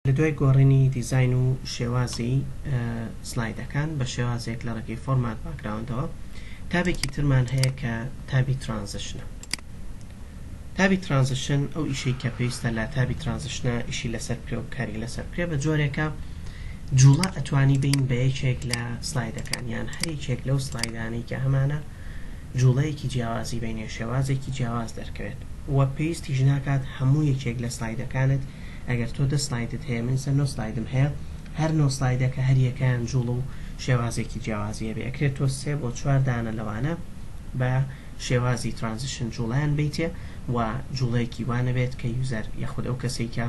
لە دوای گۆڕینی دیزاین و شێوازی سلایدەکان بە شێوازێک لە ڕێگەی فۆرمات باکگراوندەوە، تابێکی ترمان هەیە کە تابی ترانزشنە. تابی ترانزشن ئەو ئیشەی کە پێویستە لە تابی ترانزشنە ئیشی لەسەر بکرێ و کاری لەسەر بکرێ بە جۆرێکە جووڵە ئەتوانی بەین بە یەکێک لە سلایدەکان یان هەر یەکێک لەو سلایدانەی کە هەمانە جوڵەیەکی جیاوازی بینێ شێوازێکی جیاواز دەرکەوێت و پێویستیش ناکات هەموو یەکێک لە سلایدەکانت ئەگەر تۆ دە سلایدت هەیە من سە نۆ سلایدم هەیە هەر نۆ سلایدە کە هەر یەکەیان جوڵە و شێوازێکی جیاوازی هەبێ ئەکرێ تۆ سێ بۆ چوار دانە لەوانە بە شێوازی ترانزیشن جوڵەیان بەیتێ و جوڵەیەکی وا نەبێت کە یوزەر یاخود ئەو کەسەی کە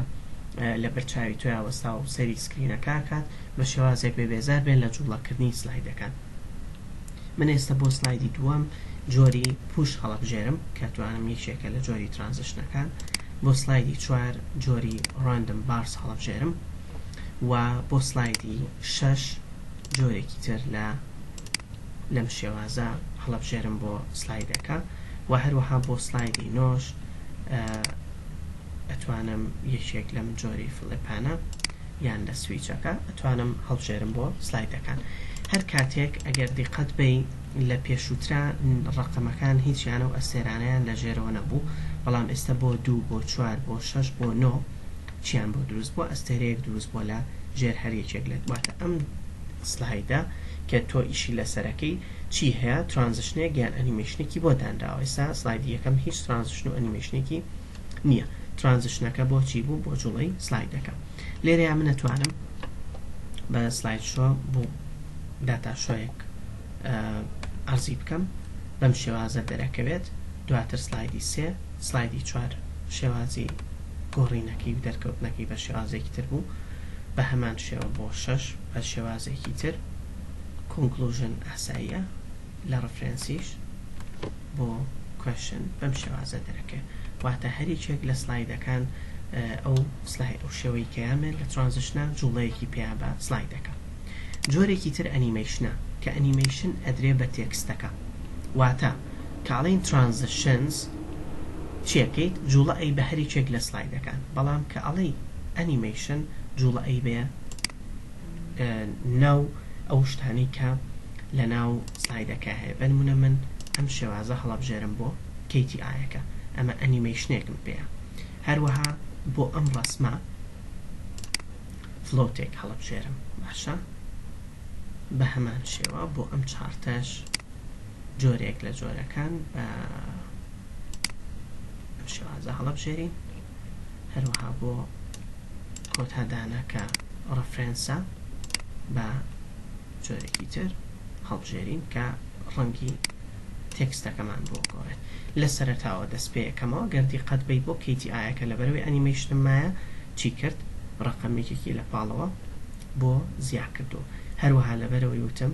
لە بەرچاوی تۆیا وەستا و سەیری سکرینەکە ئەکات بە شێوازێک بێ بێزار بێن لە جوڵەکردنی سلایدەکان. من ئێستا بۆ سلایدی دووەم جۆری پوش هەڵەبژێرم کە توانم یەکێکە لە جۆری ترانزشنەکان بۆ سلایدی چوار جۆری ڕاندم بارس هەڵەبژێرم و بۆ سلایدی شەش جۆرێکی تر لە لەم شێوازە هەڵەبژێرم بۆ سلایدەکە و هەروەها بۆ سلایدی نۆش ئەتوانم یەکێک لەم جۆری فڵێپانە یان لە سویچەکە ئەتوانم هەڵبژێرم بۆ سلایدەکان هەر کاتێک ئەگەر دیقەت بەی لە پێشووترا ڕەقەمەکان هیچیانە و ئەستێرانەیان لە ژێرەوە نەبوو بەڵام ئێستا بۆ دوو بۆ چوار بۆ شەش بۆ نۆ چیان بۆ دروست بووە ئەستێرەیەک دروست بووە لە ژێر هەر یەکێک لە واتە ئەم سلایدە کە تۆ ئیشی لەسەرەکەی چی هەیە ترانزشنێک یان ئەنیمەیشنێکی بۆ دانراوە ئێستا سلایدی یەکەم هیچ ترانزشن و ئەنیمەیشنێکی نیە ترانزشنەکە بۆ چی بوو بۆ جوڵەی سلایدەکە لێرەیا من ئەتوانم بە سلاید شۆ بوو داتا شۆیەک ئەرزی بکەم بەم شێوازە دەرەکەوێت دواتر سلایدی سێ سلایدی چوار شێوازی گۆڕینەکەی و دەرکەوتنەکەی بە شێوازێکی تر بوو بە هەمان شێوە بۆ شەش بە شێوازێکی تر کۆنکلوژن ئاساییە لە ڕفرێنسیش بۆ کوێشن بەم شێوازە دەرەکەوێت واتە هەر یەکێک لە سلایدەکان ئەو سلای ئەو شێوەی کەیامێت لە ترانزشنا جوڵەیەکی پێیا بە سلایدەکە جۆرێکی تر ئەنیمەیشنە کە ئەنیمەیشن ئەدرێ بە تێکستەکە واتە کاڵین ترانزشنز چیەکەیت جوڵە ئەی بە هەر یەکێک لە سلایدەکان بەڵام کە ئەڵێی ئەنیمەیشن جوڵە ئەی بە ناو ئەو شتانەی کە لە ناو سلایدەکە هەیە بە نمونە من ئەم شێوازە هەڵەبژێرم بۆ کەیتی ئایەکە ئەمە ئەنیمەیشنێکم پێیە هەروەها بۆ ئەم ڕەسمە فلۆتێک هەڵەبژێرم باشە بە هەمان شێوە بۆ ئەم چارتەش جۆرێک لە جۆرەکان بە ئەم شێوازە هەڵەبژێرین هەروەها بۆ کۆتا دانە کە ڕەفرێنسە بە جۆرێکی تر هەڵبژێرین کە ڕەنگی تێکستەکەمان بۆ بگۆڕێت لە سەرەتاوە دەست پێ ئەکەمەوە گەر دیقەت بەی بۆ کەیتی ئایەکە لەبەر ئەوەی ئەنیمەیشنم مایە چی کرد ڕەقەم یەکێکی لە پاڵەوە بۆ زیا کردووم هەروەها لەبەر ئەوەی وتم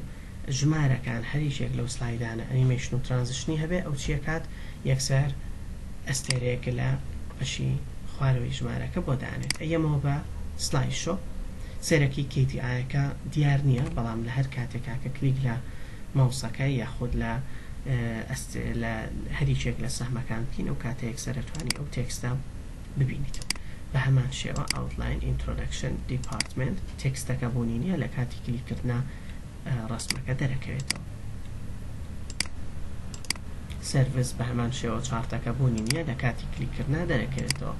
ژمارەکان هەر یەکێک لەو سلایدانە ئەنیمەیشن و ترانزشنی هەبێ ئەو چیە کات یەکسەر ئەستێرەیەک لە بەشی خوارەوەی ژمارەکە بۆ دانێت ئەیەمەوە بە سلایس شۆ سەرەکی کەی دی ئایەکە دیار نیە بەڵام لە هەر کاتێکا کە کلیک لە ماوسەکە یاخود لە ئەست لە هەر یەکێک لە سەهمەکان بکەین ئەو کاتە یەکسەر ئەتوانی ئەو تێکستە ببینیت بە هەمان شێوە Outline Introduction Department تێکستەکە بوونی نیە لە کاتی کلیک کردنا ڕەسمەکە دەرەکەوێتەوە Service بە هەمان شێوە چارتەکە بوونی نیە لە کاتی کلیک کردنا دەرەکەوێتەوە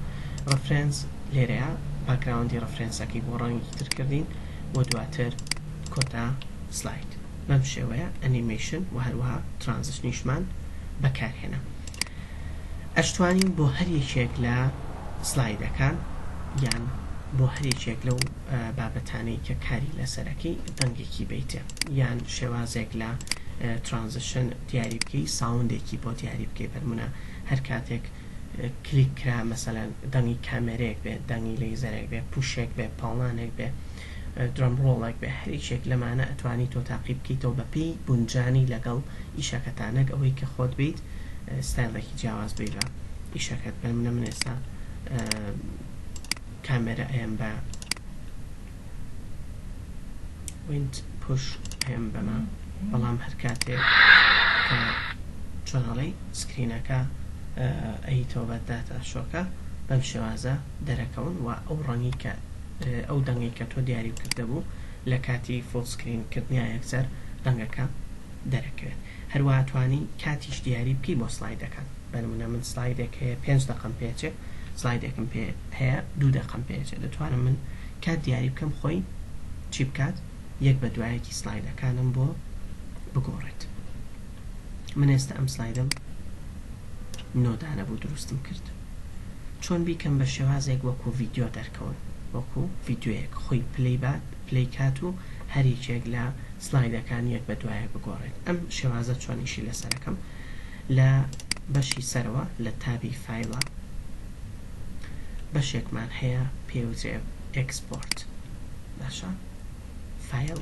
Reference لێرەیا باکگراوندی ڕەفرێنسەکەی بۆ ڕەنگی تر کردین بۆ دواتر کۆتا سلاید بەم شێوەیە ئەنیمەیشن و هەروەها ترانزشنیشمان بەکارهێنا. ئەشتوانین بۆ هەر یەکێک لە سلایدەکان یان بۆ هەر یەکێک لەو بابەتانەی کە کاری لەسەرەکەی دەنگێکی بیتێ یان شێوازێک لە ترانزشن دیاری بکەی ساوندێکی بۆ دیاری بکەی بەرمونە هەر کاتێک کلیک کرا مەسەلەن دەنگی کامێرەیەک بێ دەنگی لەیزەرێک بێ پوشێک بێ پاڵنانێک بێ درەم ڕۆڵەک بێ هەر یشێک لەمانە ئەتوانی تۆ تاقی بکەیتەوە بەپێی گونجانی لەگەڵ ئیشەکەتا نەک ئەوەی کە خۆت بیت ستایڵێکی جیاواز بی لە ئیشەکەت بەمنە من ئێستا کامێرە ئەیەم بە وینت پوش ئەیەم بەمە بەڵام هەر کاتێ چۆنەڵی سکرینەکە ئەیتەوە بە داتا شۆکە بەم شێوازە دەرەکەون و ئەو ڕەنگی کە ئەو دەنگەی کە تۆ دیاری کردبوو لە کاتی فول سکرین کردنیا یەکسەر دەنگەکە دەرەکەوێت هەروەها توانی کاتیش دیاری بکەی بۆ سلایدەکان بە نمونە من سلایدێک هەیە پێنج دەقەم پێچێ سلایدێکم پێ هەیە دوو دەقەم پێچێ دەتوانم من کات دیاری بکەم خۆی چی بکات یەک بە دوایەکی سلایدەکانم بۆ بگۆڕێت من ئێستا ئەم سلایدەم نۆدانە بوو دروستم کرد چۆن بیکەم بە شێوازێک وەکو ڤیدیۆ دەرکەون وەکو ڤیدیۆیەک خۆی پلەی بات پلەی کات و هەر یەکێک لە سلایدەکان یەک بە دوایەک بگۆڕێت ئەم شێوازە چۆن ئیشی لەسەر ئەکەم لە بەشی سەرەوە لە تابی فایلە بەشێکمان هەیە پێوترێ ئێکسپۆرت باشە فایل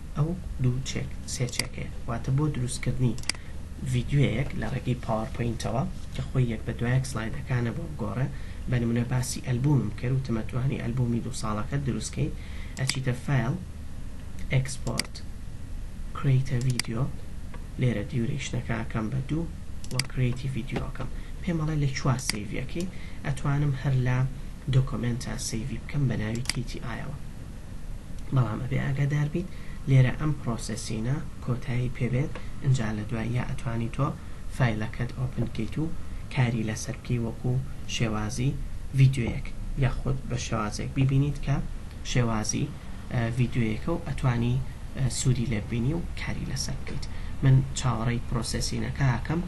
ئەو دوو چێک سێ چێکەیە واتە بۆ دروستکردنی ڤیدیۆیەک لە ڕێگەی پاوەرپۆینتەوە کە خۆی یەک بە دوایەک سڵایدەکانە بۆ بگۆڕێ بە نمونە باسی ئەلبومم کرد وتم ئەتوانی ئەلبومی دوو ساڵەکەت دروست کەیت ئەچیتە فایل ئێکسپۆرت Create a Video لێرە دیورەیشنەکە ئەکەم بە دوو و Create a Video ئەکەم پێم ئەڵێ لە کوا سەیڤی ئەکەی ئەتوانم هەر لە دۆکۆمێنتا سەیڤی بکەم بە ناوی KTI ەوە بەڵام ئەبێ ئاگادار بیت لێرە ئەم پڕۆسسینە کۆتایی پێ بێت ئینجا لە دواییا ئەتوانی تۆ فایلەکەت ئۆپن کەیت و کاری لەسەر بکەی وەکو شێوازی ڤیدیۆیەک یاخود بە شێوازێک بیبینیت کە شێوازی ڤیدیۆیەکە و ئەتوانی سوودی لێ ببینی و کاری لەسەر بکەیت من چاوەڕێی پڕۆسسینەکە ئەکەم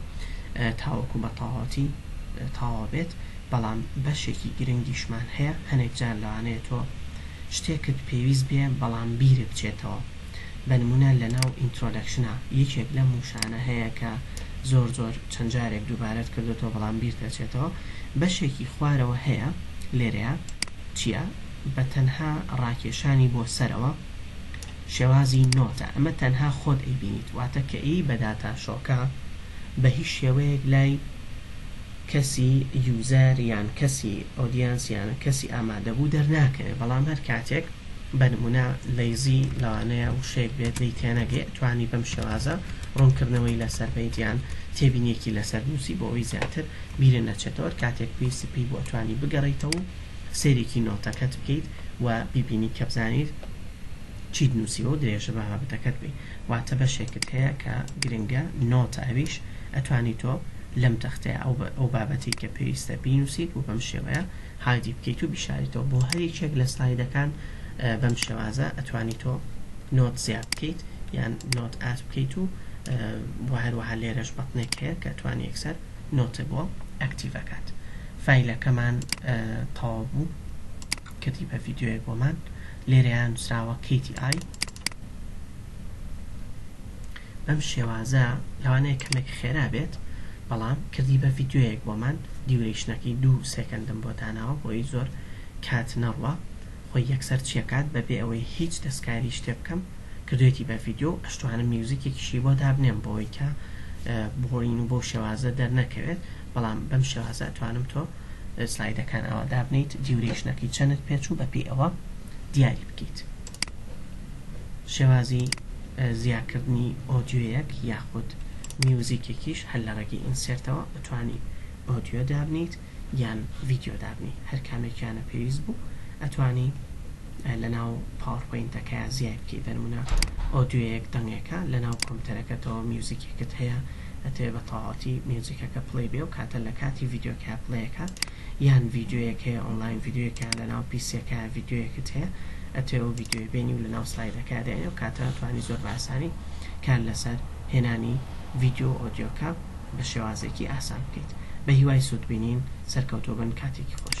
تاوەکو بە تەواوەتی تەواو بێت بەڵام بەشێکی گرنگیشمان هەیە، هەنێک جار لەوانەیە تۆ شتێکت پێویست بێ بەڵام بیرت بچێتەوە بە نموونە لەناو ئینترۆدەکشنا یەکێک لەم وشانە هەیە کە زۆر زۆر چەند جارێک دووبارەت کردۆتەوە بەڵام بیرت دەچێتەوە بەشێکی خوارەوە هەیە لێرەیا چیە بە تەنها ڕاکێشانی بۆ سەرەوە شێوازی نۆتە ئەمە تەنها خۆت ئەیبینیت واتە کە ئەیی بە داتا شۆکە بە هیچ شێوەیەک لای کەسی یوزەر یان کەسی ئۆدیەنس یان کەسی ئامادەبوو دەرناکەوێ بەڵام هەر کاتێک بە نمونە لەیزی لەوانەیە وشەیەک بێت لێی تێنەگەی ئەتوانی بەم شێوازە ڕونکردنەوەی لەسەر بەیت یان تێبینیەکی لەسەر بنوسی بۆ ئەوەی زیاتر بیرت نەچێتەوە هەر کاتێک پێویستت پێی بوو ئەتوانی بگەڕێیتەوە و سەیرێکی نۆتەکەت بکەیت و بیبینی کە بزانیت چیت نوسیوە و درێژە بە بابەتەکەت بەی. واتە بەشێکت هەیە کە گرنگە نۆتە ئەویش ئەتوانی تۆ لەم تەختەیە ئەو ئەو بابەتەی کە پێویستە بینوسیت و بەم شێوەیە هایدی بکەیت و بیشاریتەوە بۆ هەر یەکێک لە سلایدەکان بەم شێوازە ئەتوانی تۆ نۆت زیاد بکەیت یان نۆت ئاست بکەیت و بۆ هەروەها لێرەش بەتنێک هەیە کە توانی یەکسەر نۆتە بۆ ئەکتیڤ ئەکات فایلەکەمان تەواو بوو کەتیبە ڤیدیۆیەک بۆمان لێرەیان نووسراوە کەیتی ئای بەم شێوازە لەوانەیە کەمێک خێرا بێت بەڵام کردی بە ڤیدیۆیەک بۆمان دیورەیشنەکەی دوو سێکەندم بۆ داناوە بۆی زۆر کات نەڕوا خۆی یەکسەر چیەکات بەبێ ئەوەی هیچ دەستکاری شتێ بکەم کردوێتی بە ڤیدیۆ و ئەشتوانم میوزیکێکیشی بۆ دابنێم بۆی کە بۆڵین و بۆ شێوازە دەرنەکەوێت بەڵام بەم شێوازە ئەتوانم تۆ سلایدەکان ئەوە دابنیت دیورەیشنەکەی چەنت پێچوو بەپی ئەوە دیاری بکەیت شێوازی زیاکردنی ئۆدیۆیەک یاخود میوزیکێکیش هەر لە ڕێگەی ئینسێرتەوە ئەتوانی ئۆدیۆ دابنێیت یان ڤیدیۆ دابنێی هەر کامێکیانە پێویست بوو ئەتوانی لەناو پاوەرپۆینتەکەیا زیای بکەی بەنمونە ئۆدیۆیەک دەنگێکە لەناو کۆمپیوتەرەکەتەوە میوزیکێکت هەیە ئەتەوێ بە تەواوەتی میوزیکەکە پلەی بێ و کاتە لە کاتی ڤیدیۆکەیا پلەی ئەکات یان ڤیدیۆیەک هەیە ئۆنڵاین ڤیدیۆیەکە لەناو پیسیەکە ڤیدیۆیەکت هەیە ئەتوێ ئەو ڤیدیۆی بێنی و لەناو سلایدەکە دێنێ و کاتە توانی زۆر باسانی کار لەسەر هێنانی ڤیدیۆ و ئۆدیۆکە بە شێوازێکی ئاسان بکەیت بە هیوای سوود بینین سەرکەوتوبن کاتێکی خۆش.